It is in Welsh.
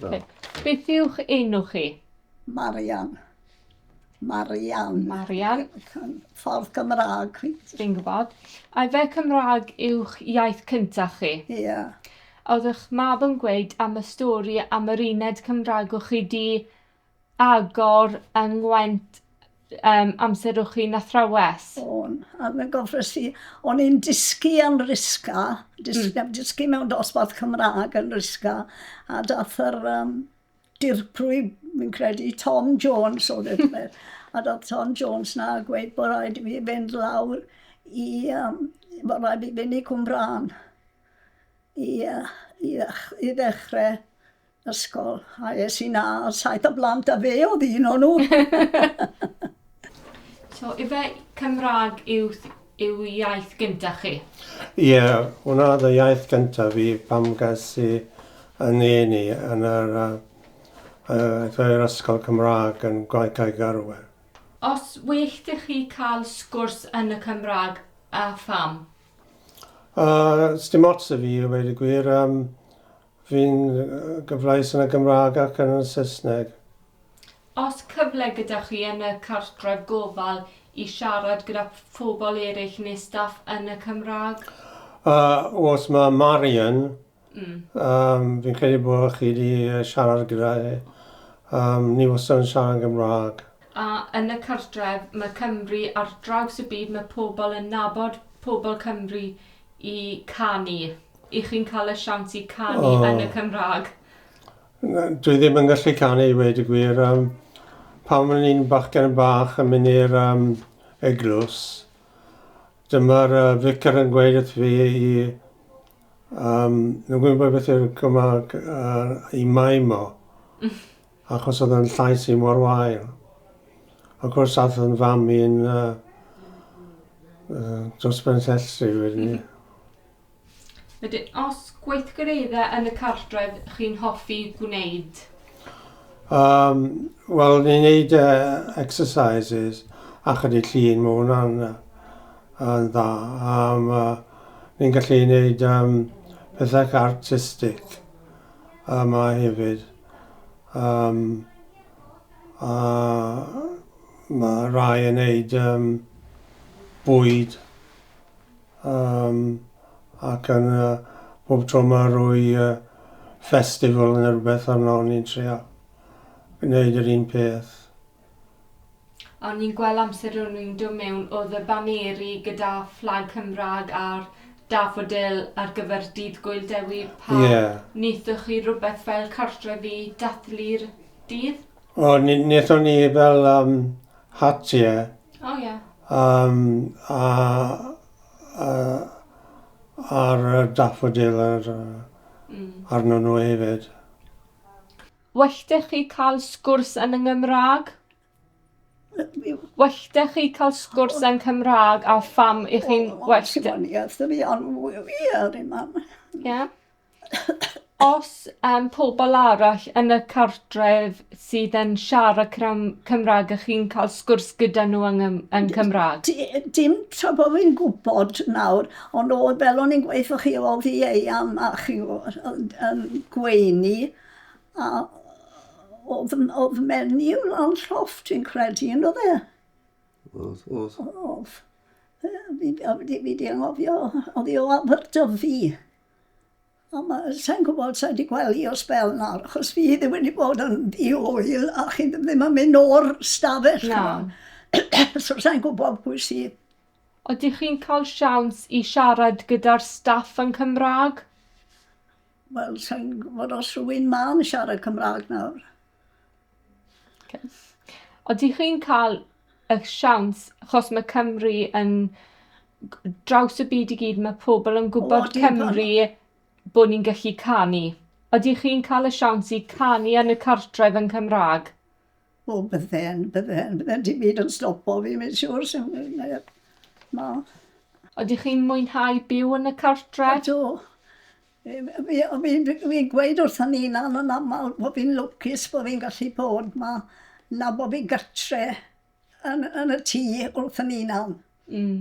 Okay. Beth yw'ch enw chi? Marian. Marian. Marian. Ffordd Cymraeg. Dwi'n gwybod. A fe Cymraeg yw'ch iaith cyntaf chi? Ie. Yeah. Oeddech mab yn gweud am y stori am yr uned Cymraeg o'ch chi di agor yng Ngwent um, amserwch chi'n athrawes? O'n, a fe gofres i, o'n i'n dysgu yn risga, dysgu, mm. dysgu mewn dosbarth Cymraeg yn risga, a dath yr um, dirprwy, mi'n credu, Tom Jones o ddiffer, a dath Tom Jones na gweud bod rhaid i fi fynd lawr i, um, bod rhaid i fynd i Cwmbrân i, uh, i, ddech, i ddechrau ysgol, a es i 'na a saith o blant a fe oedd un o'n nhw. so, ife Cymraeg yw, yw iaith gyntaf chi? Ie, yeah, hwnna oedd y iaith gyntaf fi pam gas i yn un i yn yr, uh, uh, ysgol Cymraeg yn Gwaith Cae Garwer. Os wych dych chi cael sgwrs yn y Cymraeg, a pham? Uh, Sdim ots y fi, i wedi gwir. Um, Fi'n gyfleus yn y Gymraeg ac yn y Saesneg. Os cyfle gyda chi yn y cartref gofal i siarad gyda phobl eraill neu staff yn y Cymraeg? Yy os ma Marian yym fi'n credu bo chi di siarad gyda hi yym ni wastad yn siarad yn Gymraeg. A yn y cartref ma Cymru ar draws y byd ma pobl yn nabod pobl Cymru i canu, i chi'n cael y siawns i canu oh. yn y Cymraeg? Dwi ddim yn gallu canu i wedi gwir. Um, pan o'n i'n bachgen yn bach yn mynd i'r um, eglwys, dyma'r uh, ficar yn gweud wrth fi i... Um, nhw'n gwybod beth yw'r Gymraeg uh, i maimo. Achos oedd yn llais i mor wael. Of course, ath yn fam i'n uh, uh, dros ben llestri wedyn ni. Wedyn, os gweithgareddau yn y cartref chi'n hoffi gwneud? Um, Wel, ni'n neud uh, exercises a chydig llun, mae hwnna'n yn dda. Um, uh, ni'n gallu neud um, pethau artistig yma hefyd. Yym, a ma' rhai yn neud yym bwyd yym ac yn yy bob tro ma' rwy yy festival ne' rwbeth arno o'n i'n trio gneud yr un peth. O'n ni'n gweld amser o'n ni'n dod mewn oedd y baneri gyda fflag Cymraeg a'r dafodil ar gyfer dydd Gwyl Dewi pa Ie. wnaethoch chi rhywbeth fel cartref i dathlu'r dydd? O ni wnaethon ni fel yym hat ie O ie. yym a a a'r yy daffodil yr yy arno nhw hefyd. Well 'da chi ca'l sgwrs yn y Ngymrag. Well 'da chi ca'l sgwrs yn Cymrag a pham 'ych chi'n well 'da... O'n i wrth y fi on' wy- wir o'n i mam. Ie. Os yym pobol arall yn y cartref sydd yn siarad cram- Cymrag 'ych chi'n ca'l sgwrs gyda nw yng ngym- yn Cymrag? Di- yy dim tra bo fi'n gwbod nawr ond o'dd fel o'n i'n gweutho chi o'dd i ei Mam a chi o- ond yn gweiny A oedd, oedd menyw lan lloff, dwi'n credu, yn oedd e? Oedd, oedd. Oedd. Fi, fi, fi di anghofio, oedd i o Aberdyfi. A mae, sa'n gwybod, sa'n di gweld i o spel na, achos fi ddim wedi bod yn ddi oel, a chi ddim yn mynd o'r stafell. Na. so sa'n gwybod pwy sydd. Oeddech chi'n cael siawns i siarad gyda'r staff yn Cymraeg? Wel, sa i'n gwybod os rwy'n ma yn siarad Cymraeg nawr. Okay. Ydych chi'n cael y siawns, achos mae Cymru yn draws y byd i gyd, mae pobl yn gwybod o, Cymru bod ni'n gallu canu. Ydych chi'n cael y siawns i canu yn y cartref yn Cymraeg? O bydden, bydden, bydden, dim byd yn stopo fi, mae'n siwr, sy'n neb. Na. Ydych chi'n mwynhau byw yn y cartre? Ydw. Fi'n fi, fi, fi gweud wrth yn unan yn aml bod fi'n lwcus bod fi'n gallu bod ma, na bod fi gartre yn, yn y tŷ wrth yn unan. Mm.